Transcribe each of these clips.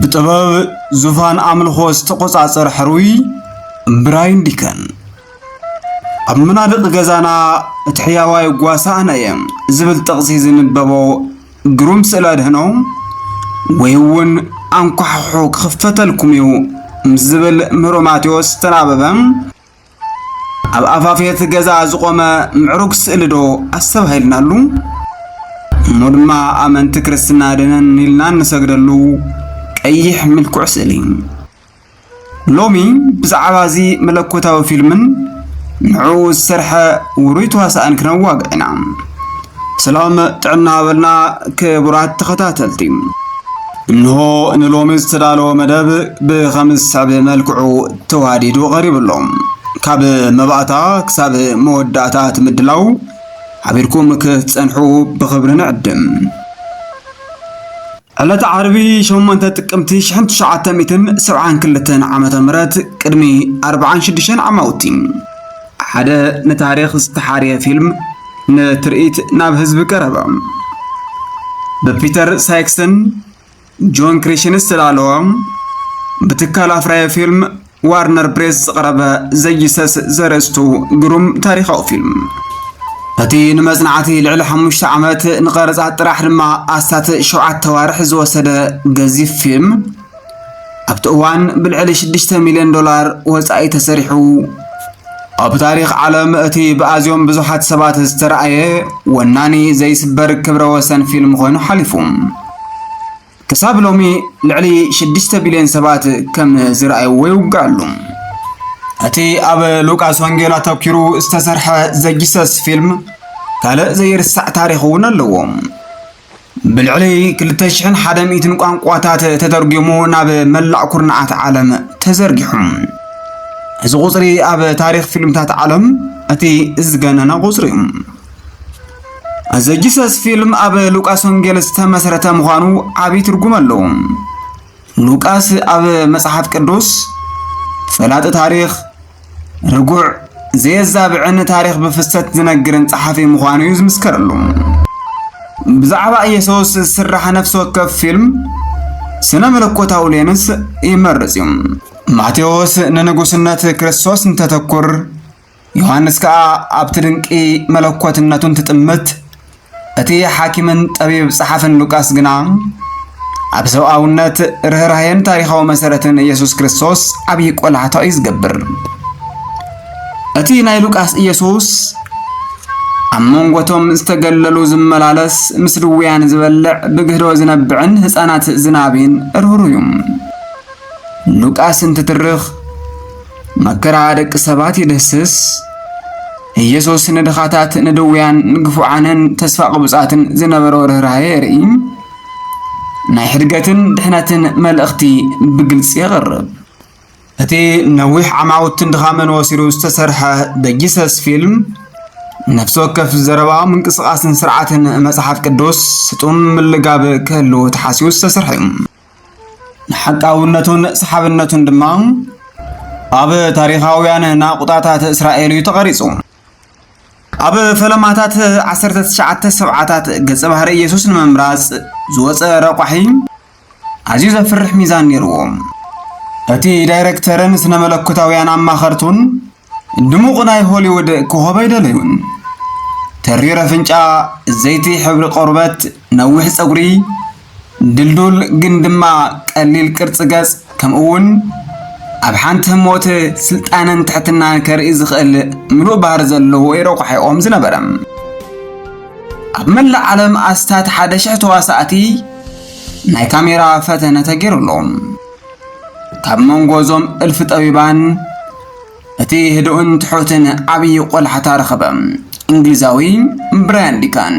ብጥበብ ዙፋን ኣምልኾ ዝተቆጻጸረ ሕሩይ ብራይን ዲከን ኣብ መናድቕ ገዛና እቲ ሕያዋይ ጓሳና እየ ዝብል ጥቕሲ ዝንበቦ ግሩም ስእሊ ኣድህኖ ወይ እውን ኣንኳሕሑ ክኽፈተልኩም እዩ ምስ ዝብል ምህሮ ማቴዎስ ዝተናበበ ኣብ ኣፋፍየት ገዛ ዝቆመ ምዕሩግ ስእሊ ዶ ኣስተባሂልናሉ እሞ ድማ ኣመንቲ ክርስትና ደነን ኢልና እንሰግደሉ ቀይሕ ምልኩዕ ስእሊ ሎሚ ብዛዕባ እዚ መለኮታዊ ፊልምን ንዕኡ ዝሰርሐ ውሩይ ተዋሳእን ክነዋግዕ ኢና። ሰላም ጥዕና በልና ክቡራት ተኸታተልቲ። እንሆ ንሎሚ ዝተዳለወ መደብ ብኸም ዝስዕብ መልክዑ ተዋዲዱ ቀሪቡ ኣሎ። ካብ መባእታ ክሳብ መወዳእታ እቲ ምድላው ሓቢርኩም ክትጸንሑ ብኽብሪ ንዕድም። ዕለተ ዓርቢ ሸሞንተ ጥቅምቲ ሽሕን ትሽዓተ ሚእትን ሰብዓን ክልተን ዓመተ ምህረት ቅድሚ ኣርብዓን ሽዱሽተን ዓማውቲ ሓደ ንታሪኽ ዝተሓርየ ፊልም ንትርኢት ናብ ህዝቢ ቀረበ። ብፒተር ሳይክሰን ጆን ክሪሽን ዝተዳለወ ብትካል ኣፍራዮ ፊልም ዋርነር ብሬስ ዝቐረበ ዘይሰስ ዘርእስቱ ግሩም ታሪኻዊ ፊልም እቲ ንመጽናዕቲ ልዕሊ ሓሙሽተ ዓመት ንቐረጻ ጥራሕ ድማ ኣስታት ሸውዓተ ዋርሕ ዝወሰደ ገዚፍ ፊልም ኣብቲ እዋን ብልዕሊ ሽዱሽተ ሚልዮን ዶላር ወጻኢ ተሰሪሑ ኣብ ታሪኽ ዓለም እቲ ብኣዝዮም ብዙሓት ሰባት ዝተረኣየ ወናኒ ዘይስበር ክብረ ወሰን ፊልም ኮይኑ ሓሊፉ ክሳብ ሎሚ ልዕሊ 6 ቢልዮን ሰባት ከም ዝረኣይዎ ይውጋሉ። እቲ ኣብ ሉቃስ ወንጌል ኣተኪሩ ዝተሰርሐ ዘጂሰስ ፊልም ካልእ ዘይርሳዕ ታሪኽ እውን ኣለዎ። ብልዕሊ 2001 ቋንቋታት ተተርጒሙ ናብ መላእ ኩርናዓት ዓለም ተዘርጊሑ። እዚ ቁፅሪ ኣብ ታሪኽ ፊልምታት ዓለም እቲ ዝገነነ ቁፅሪ እዩ። ዘጂሰስ ፊልም ኣብ ሉቃስ ወንጌል ዝተመስረተ ምዃኑ ዓብዪ ትርጉም ኣለዎ። ሉቃስ ኣብ መጽሓፍ ቅዱስ ፈላጢ ታሪኽ፣ ርጉዕ፣ ዘየዛብዕን ታሪኽ ብፍሰት ዝነግርን ጸሓፊ ምዃኑ እዩ ዝምስከረሉ። ብዛዕባ ኢየሱስ ዝስራሕ ነፍሲ ወከፍ ፊልም ስነ መለኮታዊ ሌንስ ይመርጽ እዩ። ማቴዎስ ንንጉስነት ክርስቶስ እንተተኩር ዮሃንስ ከኣ ኣብቲ ድንቂ መለኮትነቱ እንትጥምት፣ እቲ ሓኪምን ጠቢብ ጸሓፍን ሉቃስ ግና ኣብ ሰብኣውነት፣ ርህራሄን ታሪኻዊ መሰረትን ኢየሱስ ክርስቶስ ዓብዪ ቆላሕታ እዩ ዝገብር። እቲ ናይ ሉቃስ ኢየሱስ ኣብ መንጎቶም ዝተገለሉ ዝመላለስ፣ ምስ ድውያን ዝበልዕ፣ ብግህዶ ዝነብዕን ህፃናት ዝናቢን ርህሩህ እዩ። ሉቃስ እንትትርኽ መከራ ደቂ ሰባት ይድህስስ። ኢየሱስ ንድኻታት፣ ንድውያን፣ ንግፉዓንን ተስፋ ቅቡጻትን ዝነበሮ ርኅራኄ የርኢ። ናይ ሕድገትን ድሕነትን መልእኽቲ ብግልጺ የቕርብ። እቲ ነዊሕ ዓማውትን ድኻምን ወሲዱ ዝተሰርሐ ደ ጂሰስ ፊልም ነፍሲ ወከፍ ዘረባ ምንቅስቓስን ስርዓትን መጽሓፍ ቅዱስ ስጡም ምልጋብ ክህልዎ ተሓሲቡ ዝተሰርሐ እዩ። ንሓቃውነቱን ሰሓብነቱን ድማ ኣብ ታሪኻውያን ናቑጣታት እስራኤል እዩ ተቐሪጹ። ኣብ ፈለማታት 19 ሰብዓታት ገጸ ባህሪ ኢየሱስ ንምምራጽ ዝወፀ ረቋሒ ኣዝዩ ዘፍርሕ ሚዛን ነይርዎ። እቲ ዳይረክተርን ስነ መለኮታውያን ኣማኸርቱን ድሙቕ ናይ ሆሊውድ ኮኾብ ኣይደለዩን። ተሪር ኣፍንጫ፣ ዘይቲ ሕብሪ ቆርበት፣ ነዊሕ ጸጉሪ፣ ድልዱል ግን ድማ ቀሊል ቅርጺ ገጽ፣ ከምኡ'ውን ኣብ ሓንቲ ህሞት ስልጣነን ትሕትናን ከርኢ ዝኽእል ምሉእ ባህሪ ዘለዎ እዩ ረቋሒኦም ዝነበረ። ኣብ መላእ ዓለም ኣስታት ሓደ ሽሕ ተዋሳእቲ ናይ ካሜራ ፈተነ ተገይሩሎም። ካብ መንጎ እዞም እልፊ ጠቢባን እቲ ህዱእን ትሑትን ዓብዪ ቆላሕታ ረኸበ። እንግሊዛዊ ብራያን ዲካን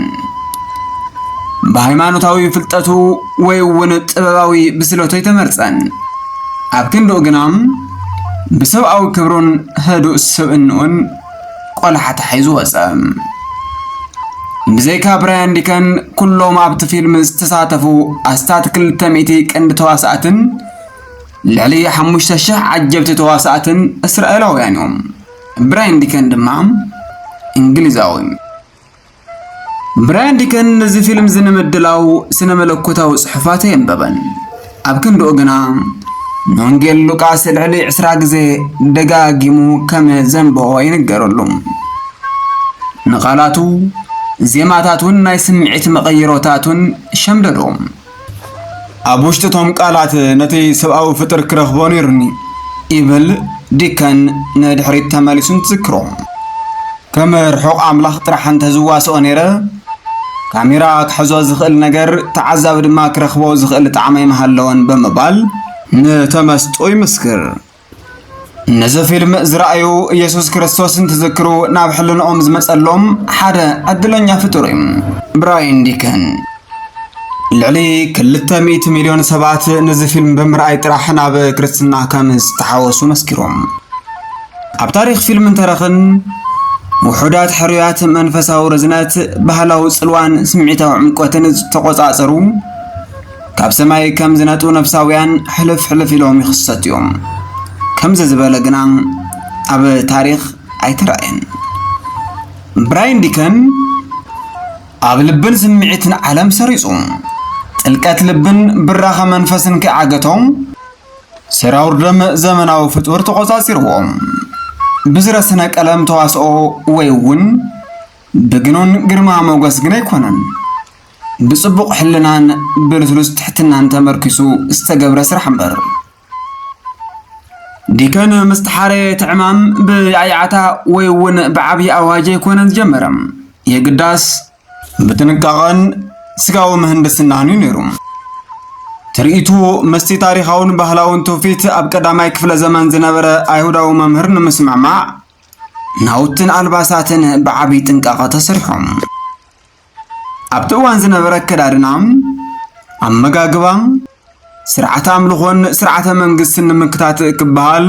ብሃይማኖታዊ ፍልጠቱ ወይ እውን ጥበባዊ ብስለቱ ኣይተመርፀን። ኣብ ክንድኡ ግና ብሰብኣዊ ክብሩን ህዱእ ስብእንኡን ቆላሓ ተሓይዙ ወጸ። ብዘይካ ብራያን ዲከን ኩሎም ኣብቲ ፊልም ዝተሳተፉ ኣስታት ክልተ ሚእቲ ቀንዲ ተዋሳእትን ልዕሊ ሓሙሽተ ሽሕ ዓጀብቲ ተዋሳእትን እስራኤላውያን እዮም። ብራያን ዲከን ድማ እንግሊዛዊ ብራያን ዲከን ነዚ ፊልም እዚ ንምድላው ስነ መለኮታዊ ጽሑፋት ኣየንበበን። ኣብ ክንድኡ ግና ንወንጌል ሉቃስ ልዕሊ ዕስራ ግዜ ደጋጊሙ ከም ዘንበቦ ይንገረሉ። ንቓላቱ፣ ዜማታቱን ናይ ስምዒት መቐይሮታቱን ሸምደዶ። ኣብ ውሽጢ እቶም ቃላት ነቲ ሰብኣዊ ፍጥር ክረኽቦ ነይሩኒ ይብል ዲከን ንድሕሪት ተመሊሱ እንትዝክሮ ከም ርሑቕ ኣምላኽ ጥራሕ እንተዝዋስኦ ነይረ ካሜራ ክሕዞ ዝኽእል ነገር ተዓዛቢ ድማ ክረኽቦ ዝኽእል ጣዕመ ምሃለወን ብምባል ንተመስጦ ይምስክር። ነዚ ፊልም ዝረኣዩ ኢየሱስ ክርስቶስ እንትዝክሩ ናብ ሕልንኦም ዝመጸሎም ሓደ ዕድለኛ ፍጡር እዩ ብራይን ዲከን ልዕሊ ክልተ ሚእቲ ሚልዮን ሰባት ነዚ ፊልም ብምርኣይ ጥራሕ ናብ ክርስትና ከም ዝተሓወሱ መስኪሮም ኣብ ታሪክ ፊልም እንተረኽን ውሑዳት ሕሩያት መንፈሳዊ ርዝነት ባህላዊ ጽልዋን ስምዒታዊ ዕምቆትን ዝተቆጻጸሩ ካብ ሰማይ ከም ዝነጥቡ ነፍሳውያን ሕልፍ ሕልፍ ኢሎም ይኽሰቱ እዮም። ከምዚ ዝበለ ግና ኣብ ታሪኽ ኣይተራእየን። ብራይን ዲከን ኣብ ልብን ስምዒትን ዓለም ሰሪጹ ጥልቀት ልብን ብራኸ መንፈስን ከይዓገቶም ሰራውር ደም ዘመናዊ ፍጡር ተቖጻጺርዎ ብዝረ ስነ ቀለም ተዋስኦ ወይ እውን ብግኑን ግርማ ሞገስ ግን ኣይኮነን። ብጽቡቕ ሕልናን ብልስሉስ ትሕትናን ተመርኪሱ ዝተገብረ ስራሕ እምበር። ዲከን ምስ ተሓረየ እቲ ዕማም ብያዕያዕታ ወይ እውን ብዓብዪ ኣዋጅ ኣይኮነን ዝጀመረ። የግዳስ ብጥንቃቐን ስጋዊ ምህንድስናን እዩ ነይሩ። ትርኢቱ ምስቲ ታሪኻውን ባህላውን ትውፊት ኣብ ቀዳማይ ክፍለ ዘመን ዝነበረ ኣይሁዳዊ መምህር ንምስምዕማዕ ናውትን ኣልባሳትን ብዓብዪ ጥንቃቐ ተሰሪሖም። ኣብቲ እዋን ዝነበረ ኣከዳድና፣ ኣመጋግባ፣ ስርዓተ ኣምልኾን ስርዓተ መንግስትን ንምክታት ክበሃል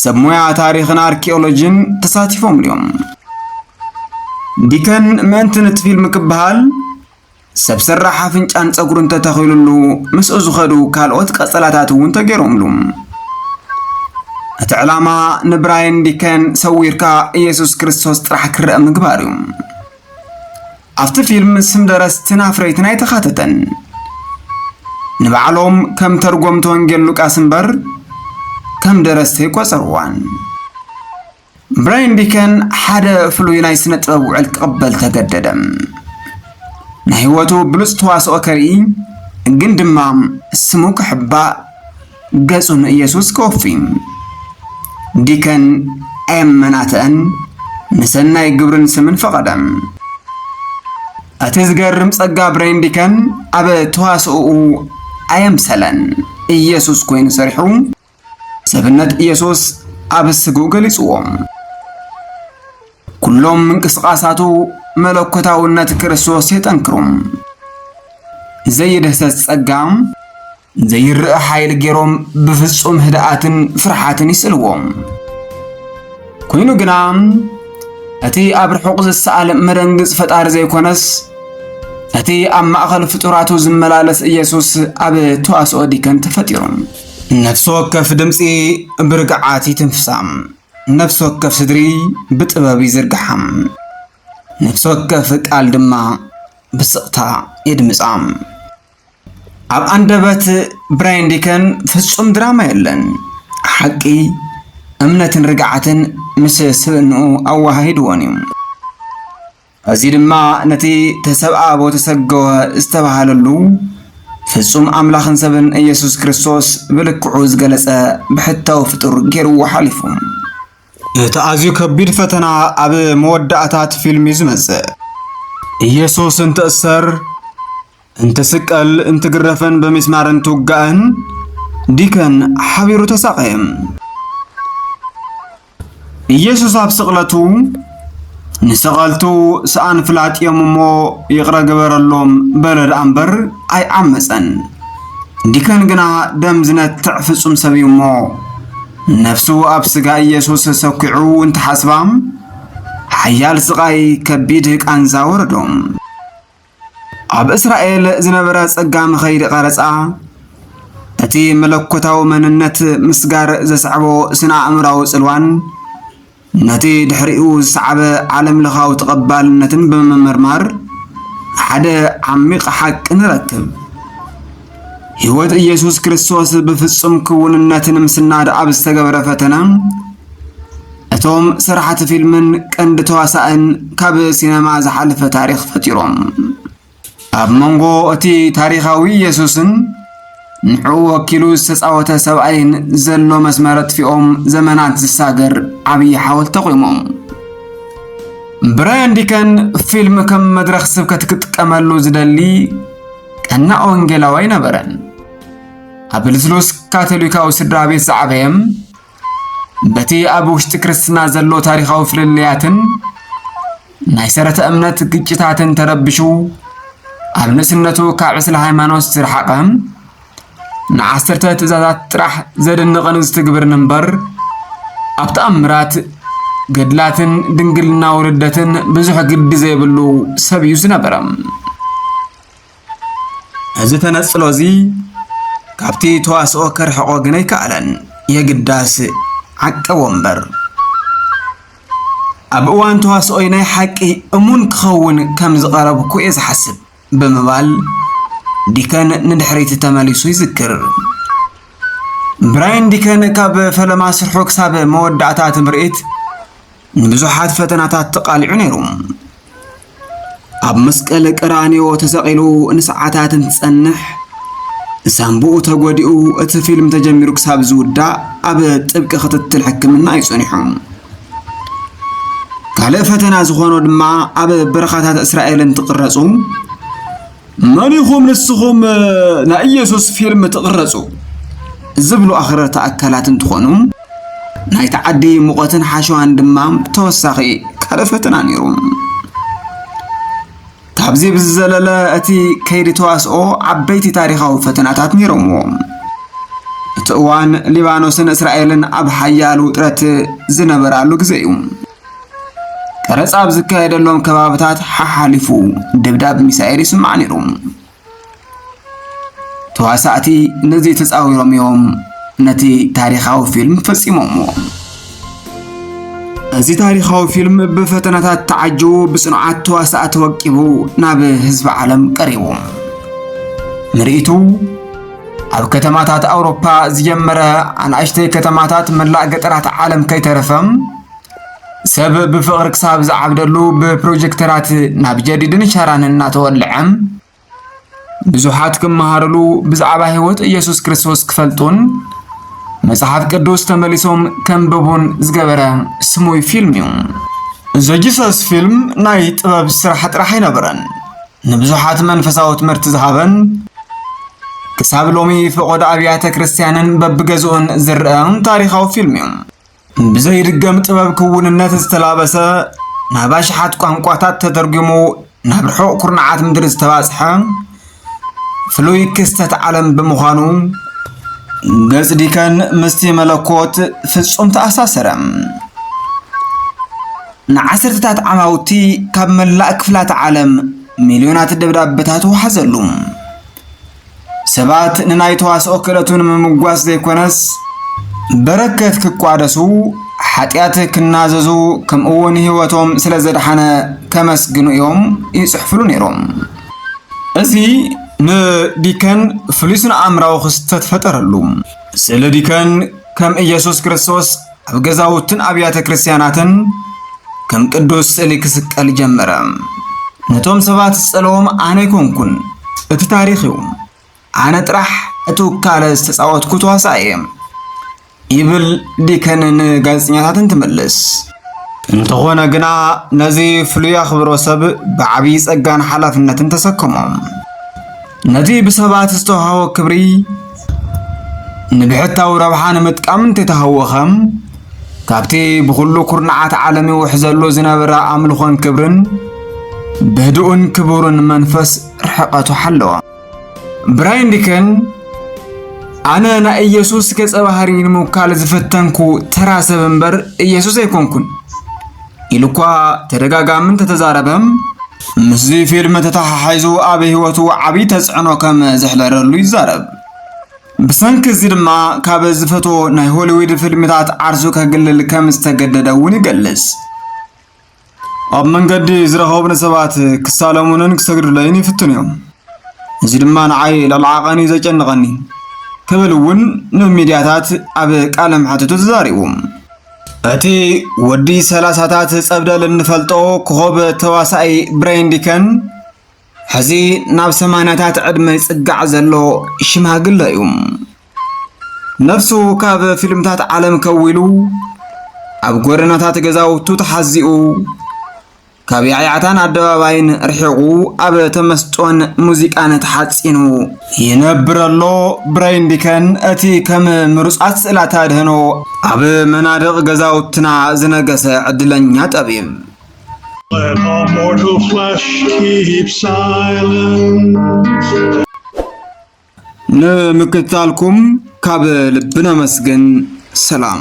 ሰብ ሞያ ታሪኽን ኣርኪኦሎጂን ተሳቲፎምሉ እዮም። ዲከን ምእንቲ ንቲ ፊልም ክበሃል ሰብ ሰራሕ ኣፍንጫን ጸጉርን ተተኺሉሉ ምስኡ ዝኸዱ ካልኦት ቀጸላታት እውን ተገይሮምሉ። እቲ ዕላማ ንብራይን ዲከን ሰዊርካ ኢየሱስ ክርስቶስ ጥራሕ ክረአ ምግባር እዩ። ኣብቲ ፊልም ስም ደረስትን ኣፍረይትን ኣይተኻተተን ንባዕሎም ከም ተርጎምቲ ወንጌል ሉቃስ እምበር ከም ደረስቲ ኣይቆጸርዋን ብራይን ዲከን ሓደ ፍሉይ ናይ ስነ ጥበብ ውዕል ክቕበል ተገደደ ናይ ህይወቱ ብሉፅ ተዋስኦ ከርኢ ግን ድማ ስሙ ክሕባእ ገጹ ንኢየሱስ ከወፊ ዲከን ኣየመናትዐን ንሰናይ ግብርን ስምን ፈቐደ። እቲ ዝገርም ጸጋ ብሬን ዲከን ኣብ ተዋስኦኡ ኣየምሰለን። ኢየሱስ ኮይኑ ሰሪሑ ሰብነት ኢየሱስ ኣብ ስግኡ ገሊጽዎ። ኩሎም ምንቅስቓሳቱ መለኮታውነት ክርስቶስ የጠንክሩ። ዘየደህሰስ ጸጋ ዘይርእ ሓይሊ ገይሮም ብፍጹም ህድኣትን ፍርሓትን ይስእልዎ። ኮይኑ ግና እቲ ኣብ ርሑቕ ዝሰኣል መደንግጽ ፈጣሪ ዘይኮነስ እቲ ኣብ ማእኸል ፍጡራቱ ዝመላለስ ኢየሱስ ኣብ ተዋስኦ ዲከን ተፈጢሩ። ነፍሲ ወከፍ ድምፂ ብርግዓት ይትንፍሳ፣ ነፍሲ ወከፍ ስድሪ ብጥበብ ይዝርግሓ፣ ነፍሲ ወከፍ ቃል ድማ ብስቕታ የድምፃ። ኣብ ኣንደበት ብራይን ዲከን ፍጹም ድራማ የለን። ሓቂ፣ እምነትን ርግዓትን ምስ ስብእንኡ ኣወሃሂድዎን እዩ። እዚ ድማ ነቲ ተሰብኣቦ ተሰገወ ዝተባህለሉ ፍጹም ኣምላኽን ሰብን ኢየሱስ ክርስቶስ ብልክዑ ዝገለጸ ብሕታዊ ፍጡር ገይርዎ ሓሊፉ። እቲ ኣዝዩ ከቢድ ፈተና ኣብ መወዳእታ እቲ ፊልም እዩ ዝመጽእ። ኢየሱስ እንትእሰር እንትስቀል እንትግረፍን ብሚስማር እንትውጋእን ዲከን ሓቢሩ ተሳቐየ። ኢየሱስ ኣብ ስቕለቱ ንሰቐልቱ ሰኣን ፍላጥ እዮም እሞ ይቕረ ግበረሎም በለ ደኣ እምበር ኣይዓመፀን። ዲከን ግና ደም ዝነትዕ ፍጹም ሰብ እዩ እሞ ነፍሱ ኣብ ስጋ ኢየሱስ ሰኪዑ እንትሓስባ ሓያል ስቓይ ከቢድ ቃንዛ ወረዶም። ኣብ እስራኤል ዝነበረ ጸጋም ኸይዲ ቐረጻ እቲ መለኮታዊ መንነት ምስጋር ዘስዕቦ ስነ ኣእምራዊ ጽልዋን ነቲ ድሕሪኡ ዝሰዓበ ዓለም ለኻዊ ተቐባልነትን ብምምርማር ሓደ ዓሚቕ ሓቂ ንረክብ። ሕይወት ኢየሱስ ክርስቶስ ብፍጹም ክውንነት ንምስናድ ኣብ ዝተገብረ ፈተና እቶም ስራሕቲ ፊልምን ቀንዲ ተዋሳእን ካብ ሲነማ ዝሓለፈ ታሪኽ ፈጢሮም ኣብ መንጎ እቲ ታሪኻዊ ኢየሱስን ንዕኡ ወኪሉ ዝተፃወተ ሰብኣይን ዘሎ መስመር ኣጥፊኦም ዘመናት ዝሳገር ዓብዪ ሓወልቲ ቆሞም ብራያን ዲከን ፊልም ከም መድረኽ ስብከት ክጥቀመሉ ዝደሊ ቀናእ ወንጌላዊ ኣይነበረን። ኣብ ልስሉስ ካቶሊካዊ ስድራ ቤት ዝዓበየ በቲ ኣብ ውሽጢ ክርስትና ዘሎ ታሪኻዊ ፍልልያትን ናይ ሰረተ እምነት ግጭታትን ተረብሹ ኣብ ንእስነቱ ካብ ዕስለ ሃይማኖት ዝረሓቐ ንዓሰርተ ትእዛዛት ጥራሕ ዘደንቕን ዝትግብርን እምበር ኣብ ተኣምራት ገድላትን ድንግልና ውልደትን ብዙሕ ግዲ ዘይብሉ ሰብ እዩ ዝነበረ እዚ ተነጽሎ እዚ ካብቲ ተዋስኦ ከርሕቆ ግን ኣይከኣለን የግዳስ ዓቀቦ እምበር ኣብ እዋን ተዋስኦይ ናይ ሓቂ እሙን ክኸውን ከም ዝቐረብኩ እየ ዝሓስብ ብምባል ዲከን ንድሕሪት ተመሊሱ ይዝክር። ብራይን ዲከን ካብ ፈለማ ስርሑ ክሳብ መወዳእታ እቲ ምርኢት ንብዙሓት ፈተናታት ተቓሊዑ ነይሩ። ኣብ መስቀል ቀራንዮ ተሰቒሉ ንሰዓታት እንትጸንሕ ሳምቡኡ ተጎዲኡ እቲ ፊልም ተጀሚሩ ክሳብ ዝውዳእ ኣብ ጥብቂ ክትትል ሕክምና እዩ ጸኒሑ። ካልእ ፈተና ዝኾኖ ድማ ኣብ በረኻታት እስራኤል እንትቕረጹ መን ኢኹም ንስኹም ናይ ኢየሱስ ፊልም ትቕረጹ ዝብሉ ኣኽረርቲ ኣካላት እንትኾኑ ናይ ተዓዲ ሙቐትን ሓሸዋን ድማ ተወሳኺ ካልእ ፈተና ነይሩ። ካብዚ ብዝዘለለ እቲ ከይዲ ተዋስኦ ዓበይቲ ታሪኻዊ ፈተናታት ነይሮምዎ። እቲ እዋን ሊባኖስን እስራኤልን ኣብ ሓያል ውጥረት ዝነበራሉ ግዜ እዩ። ቀረጻ ኣብ ዝካየደሎም ከባብታት ሓሓሊፉ ድብዳብ ሚሳኤል ይስማዕ ነይሩ። ተዋሳእቲ ነዚ ተጻዊሮም እዮም ነቲ ታሪኻዊ ፊልም ፈጺሞምዎ። እዚ ታሪኻዊ ፊልም ብፈተናታት ተዓጅቡ ብጽኑዓት ተዋሳእቲ ወቂቡ ናብ ህዝቢ ዓለም ቀሪቡ ምርኢቱ ኣብ ከተማታት ኣውሮፓ ዝጀመረ ኣናእሽተይ ከተማታት መላእ ገጠራት ዓለም ከይተረፈም ሰብ ብፍቕሪ ክሳብ ዝዓብደሉ ብፕሮጀክተራት ናብ ጀዲድን ሸራንን እናተወልዐ ብዙሓት ክመሃርሉ ብዛዕባ ህይወት ኢየሱስ ክርስቶስ ክፈልጡን መጽሓፍ ቅዱስ ተመሊሶም ከንብቡን ዝገበረ ስሙይ ፊልም እዩ። ዘጂሰስ ፊልም ናይ ጥበብ ስራሕ ጥራሕ ኣይነበረን፣ ንብዙሓት መንፈሳዊ ትምህርቲ ዝሃበን ክሳብ ሎሚ ፈቖዶ ኣብያተ ክርስቲያንን በብገዝኡን ዝርአ ታሪኻዊ ፊልም እዩ። ብዘይድገም ጥበብ ክውንነት ዝተላበሰ ናብ ኣሽሓት ቋንቋታት ተተርጒሙ ናብ ርሑቕ ኩርናዓት ምድሪ ዝተባጽሐ ፍሉይ ክስተት ዓለም ብምዃኑ ገጽ ዲከን ምስቲ መለኮት ፍጹም ተኣሳሰረ። ንዓሰርተታት ዓማውቲ ካብ መላእ ክፍላት ዓለም ሚልዮናት ደብዳበታት ወሓዘሉ። ሰባት ንናይ ተዋስኦ ክእለቱ ንምምጓስ ዘይኮነስ በረከት ክቋደሱ ሓጢኣት ክናዘዙ ከምኡውን ህይወቶም ስለ ዘድሓነ ከመስግኑ እዮም ይጽሕፍሉ ነይሮም። እዚ ንዲከን ፍሉይ ስነ ኣእምራዊ ክስተት ፈጠረሉ። ስእሊ ዲከን ከም ኢየሱስ ክርስቶስ ኣብ ገዛውትን ኣብያተ ክርስቲያናትን ከም ቅዱስ ስእሊ ክስቀል ጀመረ። ነቶም ሰባት ዝጸለዎም ኣነ ኣይኮንኩን፣ እቲ ታሪኽ እዩ። ኣነ ጥራሕ እቲ ውካለ ዝተጻወትኩ ተዋሳኢ እየ ይብል ዲከን ንጋዜጠኛታት እንትምልስ። እንተኾነ ግና ነዚ ፍሉይ ኣኽብሮ ሰብ ብዓብዪ ጸጋን ሓላፍነትን ተሰከሞ። ነቲ ብሰባት ዝተዋህቦ ክብሪ ይምልከት። ንብሕታዊ ረብሓ ንምጥቃም እንተተሃወኸ፣ ካብቲ ብኹሉ ኩርናዓት ዓለም ይውሕዘሉ ዝነበረ ኣምልኾን ክብርን ብህዱእን ክቡርን መንፈስ ርሕቐቱ ሓለወ። ብራይን ዲከን ኣነ ናይ ኢየሱስ ገጸ ባህሪ ንምውካል ዝፈተንኩ ተራ ሰብ እምበር ኢየሱስ ኣይኮንኩን። ኢሉኳ ተደጋጋሚ እንተተዛረበ ምስዚ ፊልም ተተሓሒዙ ኣብ ህይወቱ ዓብዪ ተፅዕኖ ከም ዘሕደረሉ ይዛረብ። ብሰንኪ እዚ ድማ ካብ ዝፈትዎ ናይ ሆሊዊድ ፊልምታት ዓርሱ ከግልል ከም ዝተገደደ እውን ይገልጽ። ኣብ መንገዲ ዝረኸቡኒ ሰባት ክሳለሙንን ክሰግዱለይን ይፍትኑ እዮም። እዚ ድማ ንዓይ ልዕሊ ዓቐን እዩ ዘጨንቐኒ ክብል እውን ንሚድያታት ኣብ ቃለ መሕትቱ ተዛሪቡ። እቲ ወዲ ሰላሳታት ጸብደል እንፈልጦ ኮኸብ ተዋሳኢ ብሬን ዲከን ሕዚ ናብ ሰማንያታት ዕድመ ይጽጋዕ ዘሎ ሽማግለ እዩ። ነፍሱ ካብ ፊልምታት ዓለም ከዊሉ ኣብ ጎደናታት ገዛውቱ ተሓዚኡ ካብ ያዕያዕታን ኣደባባይን ርሒቑ ኣብ ተመስጦን ሙዚቃን ተሓጺኑ ይነብር ኣሎ። ብረይንቢከን እቲ ከም ምሩጻት ስእላት ኣድህኖ ኣብ መናድቕ ገዛውትና ዝነገሰ ዕድለኛ ጠቢብ። Let our mortal flesh keep silence. ንምክትታልኩም ካብ ልቢ ነመስግን። ሰላም